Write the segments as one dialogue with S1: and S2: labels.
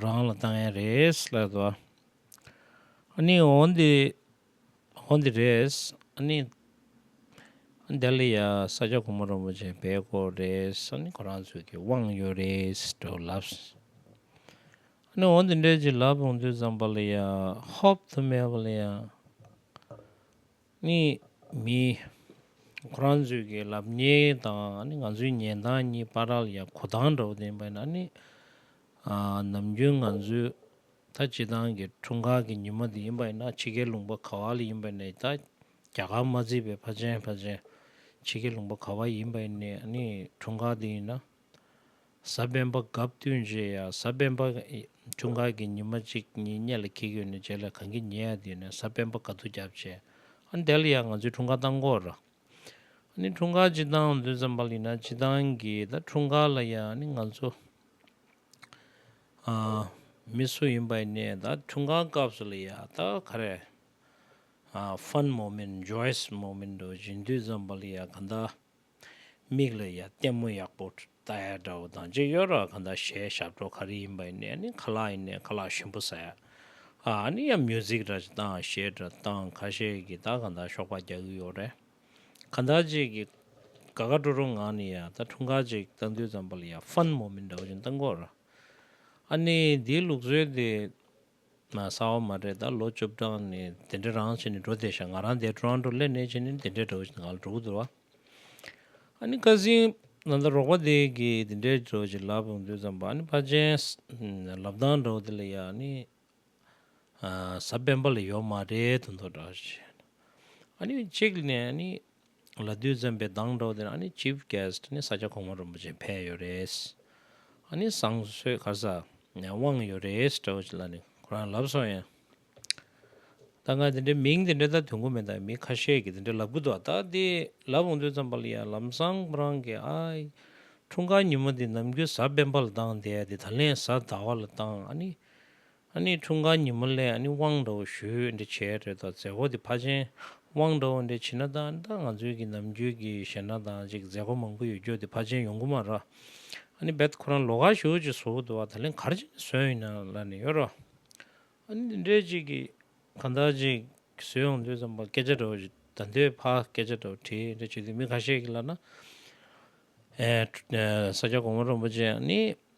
S1: རང་ལ་ལྟ་མཁན་རེད་ལབ་ཟེར་བ། ཨ་ནི་འོ་འདི་འོ་འདི་རེད། ཨ་ནི། ལྡི་ལི་ཡ་ས་སྐྱ་གུང་མོ་རིན་པོ་ཆེ་བལ་སྐོར་རེད། ཨ་ནི་ཁོ་རང་ཚོས་ཀྱི་དབང་ཡོད་རེད་དྲུག་ལབ། ཨ་ནི་འོ་འདི་འདྲས་ཅིག་ལབ་ཡོང་དུས་ཙམ་པ་ལི་ཡ་ཧོབ་ཏུ་མེད་པ་ལི་ཡ། གཉིས། མིའི། ཁོ་རང་ཚོའི་གི་ལབ་ཉེས་དང་ང་ཚོའི་ཉེན་དང་གཉིས་པ་རལ་ཡ་གོ་ཐང་འདྲ་བོ་དེ་པ་ན་ནི། ནམ་རྒྱུན་ང་ཚོའི་ད་སྤྱི་ཐང་གི་འཁྲུངས་སྐར་གི་ཉི་མ་དེ་ཡིན་པ་ན་ཕྱི་རྒྱལ་ལུང་པ་ག་བ་ལ་ཡིན་པ་ནས་ད་རྒྱ་གར་མ་བརྩིས་པའི་ཕ་ཆེན་ཕ་ཆེན་ཕྱི་རྒྱལ་ལུང་པ་ག་བ་ཡིན་པ་ནས་ནི་འཁྲུངས་སྐར་དེ་ཡིན་ན། གཟའ་སྤེན་པ་གབ་བསྟུན་རྗེས་ཡ་གཟའ་སྤེན་པ་ཆུང་ཁར་གྱི་ཉི་མ་གཅིག་གཉིས་གཉེན་ལ་ཁྱི་གཡོས་ནས་རྗེས་ལ་གངས་ཀྱི་ཉི་ཡ་བསྡུས་ནས་གཟའ་སྤེན་པ་ག་དུ་རྒྱབ་བྱས། ཨ་དལ་ཡང་ང་ཚོའི་འཁྲུངས་སྐར་བཏང་སྐོར། ཨ་ནི་འཁྲུངས་སྐར་སྤྱི་བཏང་དུས་འཛམ་བྷ་ལི་ན་སྤྱི་བཏང་གི་ད་འཁྲུངས་སྐར་ལ་ཡང་ཨ་ནི་ང་ཚོ་མི་སུ་ཡིན་པ་ཡིན་ནའི་ད་འཁྲུངས་སྐར་སྐབས་སུ་ལ་ཡ་ད་ག་རེ་ཧྥན་མོ་མིན་ཇོའེས་མོ་མིན་འགྲོ་བཞིན་དུས་འཛམ་བྷ་ལི་ཡ་ག་ད། མིག་ལ་ཡ་ལྟད་མོ་ཡག་པོ་ལྟ་ཡ་འདྲ་བོ་དང་རྗེས་གཡོལ་ར་གང་དང་ཞེས་ཞབས་བྲོ་ག་རེ་ཡིན་པ་ཡིན་ནའི་ནི་ག་ལ་ཡིན་ནའི་ག་ལ་ཞིམ་པོ་ཟ་ཡ་ཨ་ཨ་ནི་ཡ་མྱུ་ཟིག་ར་ཅིག་ལྟ་ཨང་ཞེས་འདྲ་སྟངས་ཁ་ཤས་ཀྱིས་ད་གང་དང་ཞོགས་པ་རྒྱག་གི་ཡོད་རེད། གང་དག་ཅིག་གིས་དགའ་དགའ་སྤྲོ་སྤྲོ་ངང་ནས་ཡ་ད་འཁྲུངས་སྐར་ཅིག་ལྟ་འདོད་ཙམ་པ་ལ་ཡ་ཧྥན་མོ་མིན་འདྲ་བོ་ཅིག་ལྟ་འགོ་ར་ཨ་ནི་འདིའི་ལུགས་སྲོལ་དེ་ས་བ་མ་རེད་ད་ལོ་བཅུ་བགྲང་ནི་དེ་འདྲ་རང་བྱས་ནི་འགྲོ་བསྡད་ཤག་ང་རང་འདས་གྲོང་འགྲོ་སླེ་ནས་བྱས་ནི་དེ་འདྲས་འགྲོ་བྱས་ནི་ང་ལ་འགྲོ་གི་འདུག་བ། ཨ་ནི་ཀ་སིང་ན་ད་རོགས་པ་དེ་གི་དེ་འདྲས་འགྲོ་བྱས་ལབ་ཡོང་དུས་ཙམ་བ་ཨ་ནི་ཕ་ཆེན་ལབ་དང་འདྲ་བོ་དེ་ལ་ཡ་ཨ་ནི་ས་སྤེན་པ་ལ་ཡོད་མ་རེད་དུ་འདུག་འདྲ་བྱས་ཨ་ནི་གཅིག་ནས་ཨ་ནི། ལ་བདུད་འཛིན་པའི་གདངས་སྒྲོག་དེར་ཨ་ནི Chief Guest ནི་ས་སྐྱ་གོང་མ་རིན་པོ་ཆེ་ཕེབས་ཡོད་རེད། ཨ་ནི་བཟང་གསོལ་གར་ས་ནས་དབང་ཡོད་རེད་ཟེར་བ་ཅིག་ལ་ནི་ཁོ་རང་ལབ་སོང་ཡང། ད་སྔ་དེ་འདྲའི་མིང་དེ་འདྲའི་ད་དུང་གོ་མེད་ད་མི་ཁ་ཤས་ཀྱིས་དེ་འདྲའི་ལབ་གི་འདུག་ད་དེ་ལབ་འོང་དུས་ཙམ་པ་ལ་ཡང་ལམ་སང་ཁོ་རང་གིས་ཨ་ཨི། འཁྲུངས་སྐར་ཉིན་མོ་འདི་ནམ་རྒྱུན་བཟའ་སྤེན་པ་ལ་བཏང་དེ་འདི་ད་ལན་བཟའ་ཟླ་བ་ལ་བཏང་ཨ་ནི། འཁྲུངས་སྐར་ཉིན་མོ་ལས་དབང་འདྲ་བོ་ཞུས་འདྲ་བྱས་རེད་དོ་མཛད་སྒོ་འདི་ཕ་ཆེན་དབང་འདྲ་བོ་འདི་བྱིན་ན་ད་ད་ང་ཚོའི་གི་ནམ་རྒྱུན་གི་ཞེ་ན་དང་ཅིག་མཛད་སྒོ་མང་པོ་ཡོད་རྒྱུ་འདི་ཕ་ཆེན་ཡོང་གི་མ་ར་ཨ་འབད་ཁོ་རང་ལོ་ག་ཞུ་ཅིག་བཟོ་གི་འདུག་བ་ད་ལན་གར་ཅིག་ནས་བཟོས་ཡིན་ན་ལ་ནས་ཡོད་ར་ཨ་འདི་འདྲས་ཅིག་གི་གང་ལྟར་ཅིག་བཟོས་ཡོང་དུས་ཙམ་པ་སྐད་ཆ་འདྲ་བོ་ཞིག་ད་འདོད་ཕ་སྐད་ཆ་འདྲ་བོ་དྲིས་འདྲ་བྱས་དུས་མི་ག་ཤེད་གི་ལ་ན་ཨ་ས་སྐྱ་གོང་མ་རོན་པོ་ཆེ་ཨ་ནི།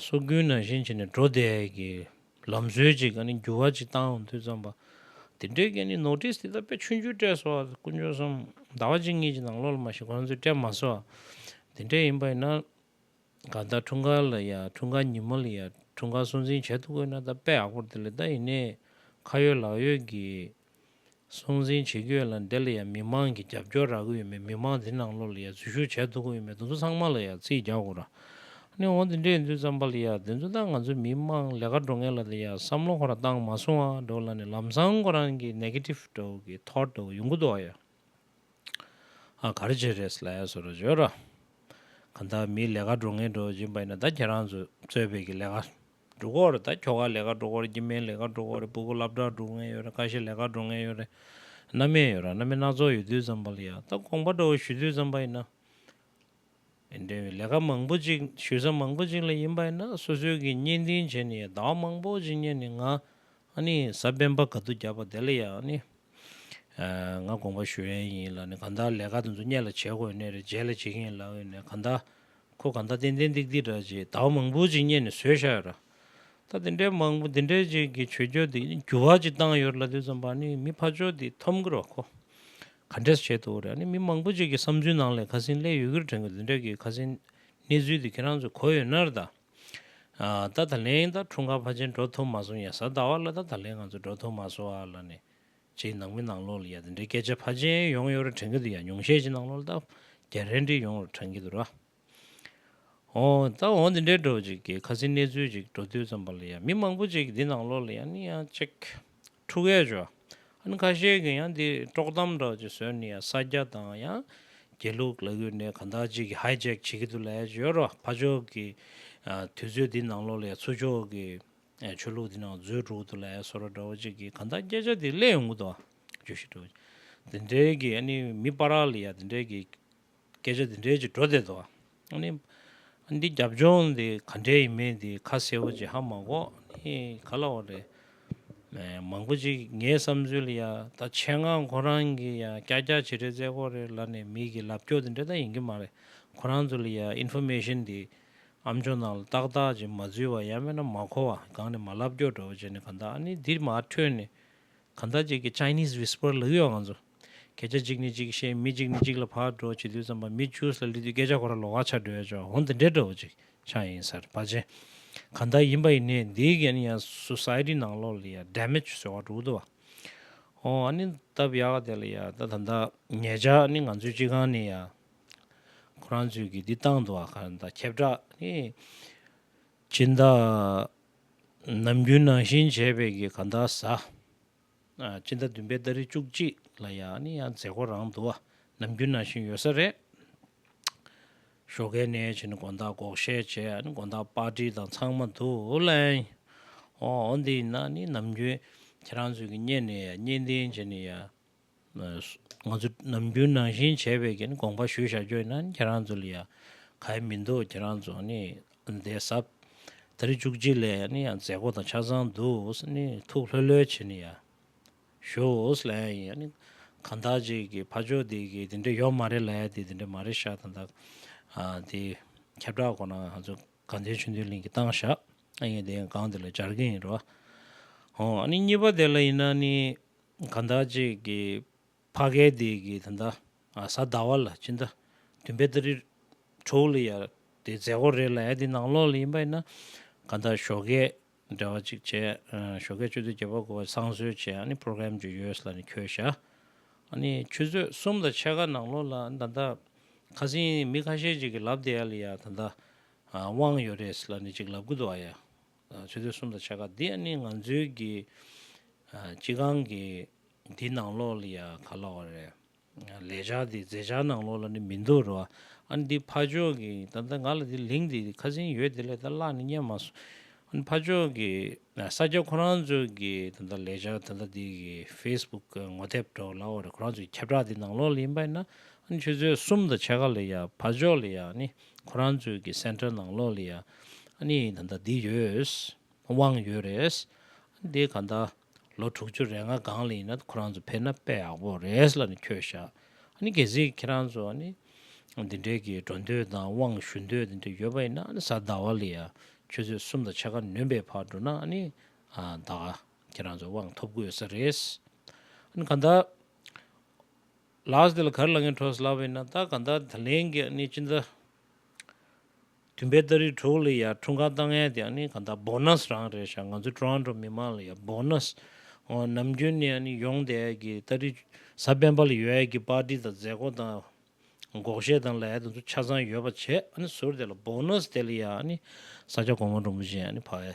S1: སོ་གུན་ནང་བཞིན་བྱས་ནས་འགྲོ་བསྡད་ཀྱི་ལམ་སྲོལ་ཅིག་ག་ནི་འགྱུར་བ་ཅིག་བཏང་འོང་དུས་བརྩམས་པ། དེ་འབྲེལ་གྱི་ནི Notice དེ་དག་པས་ཆུ་འགྱུར་སྤྲད་སོ། དཀོན་མཆོག་གསུམ་ཟླ་བ་གཅིག་གཉིས་ཀྱི་ནང་ལོག་ལ་མ་ཤི་གོང་ཚོད་སྤྲད་མ་སོ། དེ་འདྲས་ཡིན་པ་ཡིན་ན། ག་ད་འཁྲུངས་སྐར་ལ་ཡ་འཁྲུངས་སྐར་ཉིན་མོ་ལ་ཡ་འཁྲུངས་སྐར་སྲུང་འཛིན་བྱེད་ཐུབ་དགོས་ན་ད་དཔེ་ཡག་པོར་དེ་ལས་ད་ཡིན་ནས་ཁ་ཡོད་ལག་ཡོད་ཀྱི། སྲུང་འཛིན་བྱེད་རྒྱུ་ཡོད་ལ་འདི་ལ་ཡང་མི་མང་གིས་རྒྱབ་སྐྱོར་རག་གི་ཡོད་མོད་མི་མང་འདི་ནང་ལོགས་ལ་ཡང་འཛུལ་ཞུགས་བྱས་འདུག་གི་ཡོད་མོད་དེ་ཚོ་ཚང་མ་ལ་ཡང་རྩིས་རྒྱག་དགོས་ར་ནི་འོང་དེ་འདྲས་ཡིན་དུས་ཙམ་པ་ལ་ཡང་དེ་ཚོ་དང་ང་ཚོའི་མི་མང་ལས་ཀ་འགྲོ་ངེས་ལ་དེ་ཡང་བསམ་བློ་ཁོ་རང་བཏང་མ་སོང་བ་འགྲོ་ལ་ནི་ལམ་སང་ཁོ་རང་གི Negative འགྲོ་གི Thought འགྲོ་གི་ཡོང་གི་འདུག་ཨ་ཡ་ཨ་ག་རེ་བྱེད་རེས་ལ་ཡ་སོ་ར་བྱོས་ར་ག་འདའ་མིའི་ལས་ཀ་འགྲོ་ངེས་འགྲོ་བཞིན་པ་ཡིན་ན་ད་ཁྱེད་རང་ཚོས་གཙོས་བོད་ཀྱི་ལས་ཀ་འབྲུག་འོག་རེད་ད་ཁྱོ་ག་ལས་ཀ་འགྲོ་འགོ་རེད་ཀྱི་མེད་ལས་ཀ་འགྲོ་འགོ་རེད་སྤུ་གུ་ལབ་དྲག་འགྲོ་ངེས་ཡོད་རེད་ཀ་ཤེད་ལས་ཀ་འགྲོ་ངེས་ཡོད་རེད་རྣ་མེད་ཡོད་ར་རྣ་མེད་སྣ་ཚོགས་ཡོད་དུས་ཙམ་པ་ལ་ཡ་ད་དགོངས་པ་འདྲ་བོ་ཞུ་དུས་ཙམ་པ་ཡིན་ན། ཡིན་དོན་མེད་ལས་ཀ་མང་པོ་ཅིག་ཞུས་ས་མང་པོ་ཅིག་ལ་ཡིན་པ་ཡིན་ན་སོ་སོའི་གི་བརྙན་བཏིང་བྱས་ནས་ཡ་ཟླ་བ་མང་པོ་ཅིག་བརྙན་ནས་ང་ཨ་ནི་ས་སྤེན་པ་ག་དུ་རྒྱབ་པ་དེ་ལ་ཡ་ཨ་ནི་ང་དགོངས་པ་ཞུ་ཡན་ཡིན་ལ་ནི་ག་ད་ལས་ཀ་དེ་ཚོ་བརྙན་ལ་བྱེད་དགོས་ཡོད་ནི་རེད་རྗེས་ལ་བྱེད་གིན་ཡིན་ལ་ཡོད་ནི་ག་ད་ཁོ་གང་ལྟར་ཏན་ཏན་ཏིག་ཏིག་འདྲ་ཅེས་ཟླ་བ་མང་པོ་ཅིག་བསྙད་ནས་ཟོས་བཞག་ཡོད། ད་དེ་འདྲའི་མང་པོ་འདི་འདྲའི་ཅིག་གི་བྱོས་བྱོས་འདི་འགྱུར་བ་ཅིག་བཏང་ཡོད་རེད་ལབ་དུས་ཙམ་པར་ནི་མི་ཕ་ཅོག་འདི་འཐོམ་གི་རོགས་ཁོ་ག་འདྲས་སུ་བྱས་འདུག་རེད་ཨ་ནི་མི་མང་པོ་ཅིག་གི་བསམ་ཚུལ་ནང་ལས་ཁ་སིན་ལས་ཡོད་རྒུ་རུ་དྲན་དགོས་འདི་འདྲ་གི་ཁ་སིན་གནས་ཚུལ་འདི་ཁྱེད་རང་ཚོས་གོ་ཡོད་ནར་ད་ད་ད་ལན་ད་འཁྲུངས་སྐར་ཕ་ཆེན་འགྲོ་ཐུབ་མ་སོང་ཡ་ཟ་ཟླ་བ་ལ་ད་ད་ལན་ང་ཚོ་འགྲོ་ཐུབ་མ་སོང་བ་ལ་ནི། ཅེས་ནང་མི་ནང་ལོག་ལ་ཡ་དེ་འདྲའི་སྐད་ཆ་ཕར་ཆེན་ཡོང་ཡོད་ར་དྲན་གི་འདུག་ཡ་ཉུང་ཤས་ཅིག་ནང་ལོག་ལ་ལྟ་རྒྱ་རན་དྲིན་ཡོང་ར་དྲན་གི་འདུག་ར། ཨོ། ད་འོ་དེ་འདྲའི་འགྲོ་ཅིག་གི་ཁ་སིའི་གནས་ཚུལ་ཅིག་འགྲོ་དུས་ཙམ་པ་ལ་ཡ་མི་མང་པོ་ཅིག་འདི་ནང་ལོག་ལ་ཡ་ནི་ཡ་ཅིག་ཁྲུ་གས་ཅོ་ཨ་ནི་ཁ་ཤས་གི་ཡ་འདི་དཀྲོག་གཏམ་འདྲ་ཅིག་བཟོས་ནི་ཡ་ས་སྐྱ་དང་ཡ་དགེ་ལུགས་ལ་གུས་ནས་ག་འདྲ་ཅིག་གི་ཧའི་ཅེག་བྱེད་ཀི་འདུག་ལ་ཡ་ཅིག་ཡོད་ར་ཕ་ཕྱོགས་གི་དུས་ཚོད་འདི་ནང་ལོག་ལ་ཡ་ཚུ་ཕྱོགས་གི་ཆོས་ལུགས་འདི་ནང་མཛོད་དྲུག་ཏུ་ལས་ཟོར་བ་འདྲ་བ་གཅིག་གིས་གང་དག་བསྐྱེད་བྱ་དེ་སླད་ཡོངས་འདུ་བ། བརྗོད་བཞི་འདྲ་བ་གཅིག་དེ་འདྲའི་གིས་ཨ་ནི་མི་སྤ་ར་ལི་ཡ་དེ་འདྲའི་གིས། བསྐྱེད་བྱ་དེ་འདྲའི་གཅིག་འགྲོ་བསྡད་དོ། ཨ་ནི། ཨ་འདི་རྒྱབ་ལྗོངས་འདི་ག་འདྲའི་ཡིན་མིན་འདི་ཁ་གསལ་བོ་ཅིག་ཧ་མ་གོ་ནི་ག་ལ་བ་རེད། མང་པོ་ཅིག་ངའི་བསམ་ཚུལ་ལི་ཡ་ད་ཆེད་མངགས་ཁོ་རང་གིས་ཡང་སྐྱ་སྐྱ་བྱེད་འདྲའི་རྩེད་ཁོག་རེ་ལ་ནས་མིག་གིས་ལབ་སྐྱོ་དེ་འདྲ་ད་ཡིན་གྱི་མ་རེད་ཁོ་རང་ཚོ་ལི་ཡ་ཨིན་ཧྥུ་མེ་ཤིན་འདི་ཨམ་ཆོ་ནང་ལ་ཏག་ཏག་ཅིག་མ་འཛུལ་བ་ཡང་མེད་ན་མ་གོ་བ་གང་ནས་མ་རླབས་སྐྱོ་འགྲོ་བ་བྱས་ནས་གང་ལྟར་ཨ་ནི་འདིར་མ་འཕྲོས་ནས་གང་ལྟར་ཅིག་གི Chinese whisper ལུགས་ཡོད་ང་ཚོ་སྐད་ཆ་གཅིག་ནས་གཅིག་བཤད་མི་གཅིག་ནས་གཅིག་ལ་བག་གྲོ་བྱེད་དུས་ཙམ་པ་མི་བཅུ་སར་སླེབས་དུས་སྐད་ཆ་གོ་ར་ལོ་བ་ཆགས་འགྲོ་ཡ་ཆོག་འོང་དེ་འདྲས་འདྲ་བོ་ཅིག་ཆགས་ཡིན་སར་བ་ཅན་གང་ལྟར་ཡིན་པ་ཡིན་ནས་འདིའི་གན་ཡང Society ནང་ལོག་ལ་ཡང Damage བཟོ་བ་འགྲོ་དུ་བ་འོང་ཨ་ནི་སྟབས་ཡག་དེ་ལ་ཡང་ད་ད་ད་ངེད་ཅག་ཨ་ནི་ང་ཚོའི་སྤྱི་ཁང་ནས་ཡང། ཁོ་རང་ཚོས་ཀྱིས་འདི་བཏང་འདུག་ཨ་ཁ་དང་ཁྱབ་བསྒྲགས་ནི། སྤྱིན་བདག་ནམ་རྒྱུན་ནང་བཞིན་བྱས་པས་ཀྱི་ག་འདའ་ཟ། སྤྱིན་བདག་བདུན་པའི་ཟླ་རེ་བཅུ་གཅིག་ལ་ཡ་ནི་ཡང་མཛད་སྒོ་རང་འདུག་ཨ་ནམ་རྒྱུན་ནང་བཞིན་ཡོད་ས་རེད། ཞོ་ཁའི་ནས་བྱས་ནི་དགོན་བདག་འགོག་བཤད་བྱས་ཨ་ནི་དགོན་བདག་དཔའ་བྲིས་དང་ཚང་མ་དུ་ལེན། ཨོ་འོ་འདི་ཡིན་ན་ནི་ནམ་རྒྱུན་ཁྱེད་རང་ཚོས་ཀྱིས་བརྙན་ནས་ཡ་བརྙན་ལྡན་བྱས་ནི་ཡ། ང་ཚོ་ནམ་རྒྱུན་ནང་བཞིན་བྱས་པའི་གྱི་ནི་དགོངས་པ་ཞུས་བཞག་ཀྱོ་ན་ནི་ཁྱེད་རང་ཚོ་ལ་ཡང་ག་ཡེ་མི་འདུག་ཁྱེད་རང་ཚོ་ནི་འདས་ས་ད་རེས་བཅུ་གཅིག་ལས་ནི་ཡང་མཛད་སྒོ་དང་ཆ་ཚང་འདུག་ས་ནི་ཐུགས་ལྷོད་ལྷོད་བྱེད་ནི་ཡང་ཞུགས་ལ་ཡང་ཡིན་ནི་གང་ལྟར་གཅིག་གི་ཕ་ཆོས་དེ་གི་དེ་འདྲ་ཡོད་མ་རེད་ལ་ཡ་དེ་དེ་འདྲ་མ་རེད་བཞག་ད་ད་དེ་ཁྱབ་བསྒྲགས་སྐོར་ནང་ང་ཚོ་དགའ་ལྡན་ཆོས་འདུལ་གླིང་གི་བཏང་བཞག་ཨ་ཡེ་དེ་ཡང་སྒང་དེ་ལ་སྦྱར་གྱི་ཡིན་རོ། ཧོ་ཨ་ནི་གཉིས་པ་དེ་ལ་ཡིན་ན་ནི་གང་དག་ཅིག་གིས་བྷ་གའི་སྡེ་དགེ་དེ་འདའ་ས་འདའ་བ་ལ་ཅི་འདའ། དུན་པའི་ཏཱ་རི། དྲུག་ལ་ཡར་དེ་རྫས་སྒོར་རེ་ལ་ཡར་དེ་ནང་ལོགས་ལ་ཡིན་པ་ཡིན་ན། གང་དག་ཞོ་གས་འབྲེལ་བ་ཅིག་བྱས། ཞོ་གས་སྤྱོད་དུས་བརྒྱད་པ་དགུ་བ་བསང་གསོལ་བྱས་ཨ་ནི program གྱི་ཡོས་ལ་ནི་ཁྱོད་ཞྭ། ཨ་ནི་ཆུ་ཚོད་གསུམ་ལ་ཕྱེད་ཀ་ནང་ལོགས་ལ་ཨ་ནི་ད་འདའ། ཁ་སིང་མི་ཁ་ཤས་ཅིག་གིས་ལབ་དེ་ཡར་ལ་ཡར་ད་འདའ། དབང་ཡོད་རེད་ལ་ནི་ཅིག་ལབ་གི་འདུག་ཨ་ཡ། ཆོས་དུས་གསུམ་དུ་བྱ་དགའ་འདི་ནི་ང་ཚོའི་གི་སྤྱི་ཁང་གི་འདི་ནང་ལོགས་ལ་ཡ་ག་ལ་བ་རེད། ལས་བྱ་འདི་རྫས་བྱ་ནང་ལོགས་ལ་ནི་མི་འདུག་རོ། ཨ་ནི་འདི་ཕ་ཆོས་གི་ད་ལྟ་ང་ལ་འདི་ལིང་འདི་ཁ་ཟིན་ཡོད་འདི་ལས་ད་བཀླགས་ནི་སྙན་མ་སོང། ཨ་ནི་ཕ་ཆོས་གི་ས་སྐྱ་ཁོ་རང་ཚོའི་གི་ད་ལྟ་ལས་བྱ་ད་ལྟ་འདི་གི facebook གི་ངོ་དེབ་གྲོགས་ལ་བ་རེད་ཁོ་རང་ཚོའི་ཁྱབ་བསྒྲགས་འདི་ནང་ལོགས་ལ་ཡིན་པ་ཡིན་ན། ཨ་ནི་ཆོས་དུས་གསུམ་དུ་བྱ་དགའ་ལ་ཡ་བ་ཕ་ཆོས་ལ་ཡ་ནི་ཁོ་རང་ཚོའི་གི་སེན་ཏྲེལ་ནང་ལོགས་ལ་ཡང་ཨ་ནི་ད་ལྟ་འདི་ཡོད། དབང་ཡོད་རེད། འདི་ག་ད་ལོ་དྲུག་ཅུ་རེ་ལྔ་སྒང་ལ་ཡིན་ན་ཁོ་རང་ཚོ་ཕེབས་ན་དཔེ་ཡག་པོ་རེད་ལ་ནི་ཁྱོད་བཞག་ཨ་ནི་གལ་སྲིད་ཁྱེད་རང་ཚོ་ཨ་ནི་འདི་འདྲའི་གི་འགྲོ་འདོད་དང་དབང་ཞུ་འདོད་འདི་འདྲ་ཡོད་པ་ཡིན་ན་ཨ་ནི་གཟའ་ཟླ་བ་ལ་ཡང་ཁྱོད་ཚོས་གསུམ་དང་ཕྱེད་ཀ་ནོན་པའི་བར་འགྲོ་ན་ཨ་ནི་ད་ཁྱེད་རང་ཚོ་དབང་ཐོབ་དགོས་ས་རེད། ཨ་ནི་ག་ད། ལགས་དེ་ལ་གར་ལངས་ཀྱི་འཕྲོ་སླ་བས་ན་ད་ག་འདའ་ད་ལེན་གྱི་ནི་ཅི་འདའ། དུན་པའི་སྟ་རིའི་གྲོགས་ལས་ཡར་འཁྲུངས་གང་ལྟ་ངན་དེ་ནི་ག་འདའ Bonus རང་རེད་ཤག་ང་ཚོའི Toronto མི་མང་ལ་ཡང Bonus ཨོ་ནམ་རྒྱུན་ནས་ནི་ཡོང་དེ་ཨེ་གི་སྟ་རི་ས་སྤེན་པ་ལ་ཡོད་ཨེ་གི་པར་ཏི་དང་མཛད་སྒོ་དང་འགོག་བཤད་དང་ལ་ཡ་དེ་ཚོ་ཆ་ཚང་ཡོད་པ་བྱས་ཨ་ནི་ཟུར་དེ་ལ Bonus དེ་ལ་ཡང་ཨ་ནི་ས་སྐྱ་གོང་མ་འབྲོང་བུ་བཞིན་ཨ་ནི་བག་ཨེ།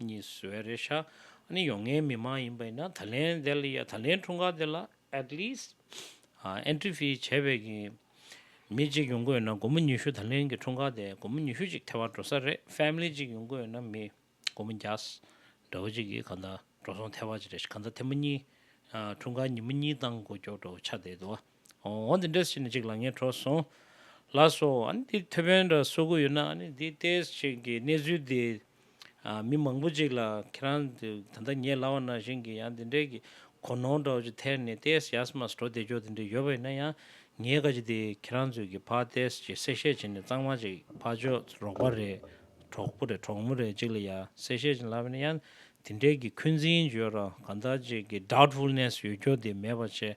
S1: གཉིས་སུ་བའི་རེ་ཞྭ་ནི་ཡོང་ངའི་མི་མ་ཡིན་པ་ཡིན་ན་ད་ལན་དེ་ལ་ཡ་ད་ལན་འཁྲུངས་སྐར་དེ་ལ at least entry fee བྱས་པའི་གི་མི་གཅིག་ཡོང་དགོས་ཡོད་ན་དགོང་མོ་ཉི་ཤུ་ད་ལན་གི་འཁྲུངས་སྐར་དེ་དགོང་མོ་ཉི་ཤུ་གཅིག་ཐལ་བ་འགྲོ་ས་རེད family གཅིག་ཡོང་དགོས་ཡོད་ན་མི་དགོང་མོ་བརྒྱ་འདྲ་བོ་གཅིག་གི་ག་ད་འགྲོ་སོང་ཐལ་བ་གཅིག་རེད་ག་ད་ཐེ་མོ་གཉིས་འཁྲུངས་སྐར་ཉིན་མོ་གཉིས་བཏང་དགོས་སྐྱོ་བྲོ་བོ་ཆ་དེ་དུ་བ། འོ་འདི་འདྲས་ཟེར་ནས་ཅིག་ལ་ངས་དྲོ་སོང། ལ་སོ། ཨཱ་འདི་ཐེ་ཝན་འདྲ་བསོ་གོ་ཡོད་ན་ཨཱ་ནི་འདི་ལྟའི་ཞིག་གི་གནས་ཚུལ་འདི། མི་མང་པོ་ཅིག་ལ་ཁྱེད་རང་ད་ལྟ་ཉེ་ལ་བ་ན་བཞིན་གི་ཡང་འདི་འདྲས་ཀྱི་གོ་ནོར་འདྲ་བོ་ཅིག་ཐད་ནས་ལྟས་ཡས་མ་དྲོ་བདེ་འཇོག་འདི་འདྲས་ཡོད་པ་ཡིན་ན་ཡང་ངས་ཀ་ཅིག་འདི་ཁྱེད་རང་ཚོས་ཀྱི་ཕ་ལྟས་ཅིག་གསལ་བཤད་བྱེད་ནས་གཙང་མ་ཅིག་ཕ་ཅོག་རོགས་པ་རེད་གྲོགས་པོ་རེད་གྲོགས་མོ་རེད་ཅིག་ལ་ཡང་གསལ་བཤད་བྱེད་ལབ་པ་ཡིན་ན་ཡང་འདི་འདྲས་ཀྱི་འཁོན་འཛིན་བརྗོད་རང་གང་དག་ཅིག་གི Doubtfulness ཡོད་སྐྱོ་འདི་མེད་པ་བྱེད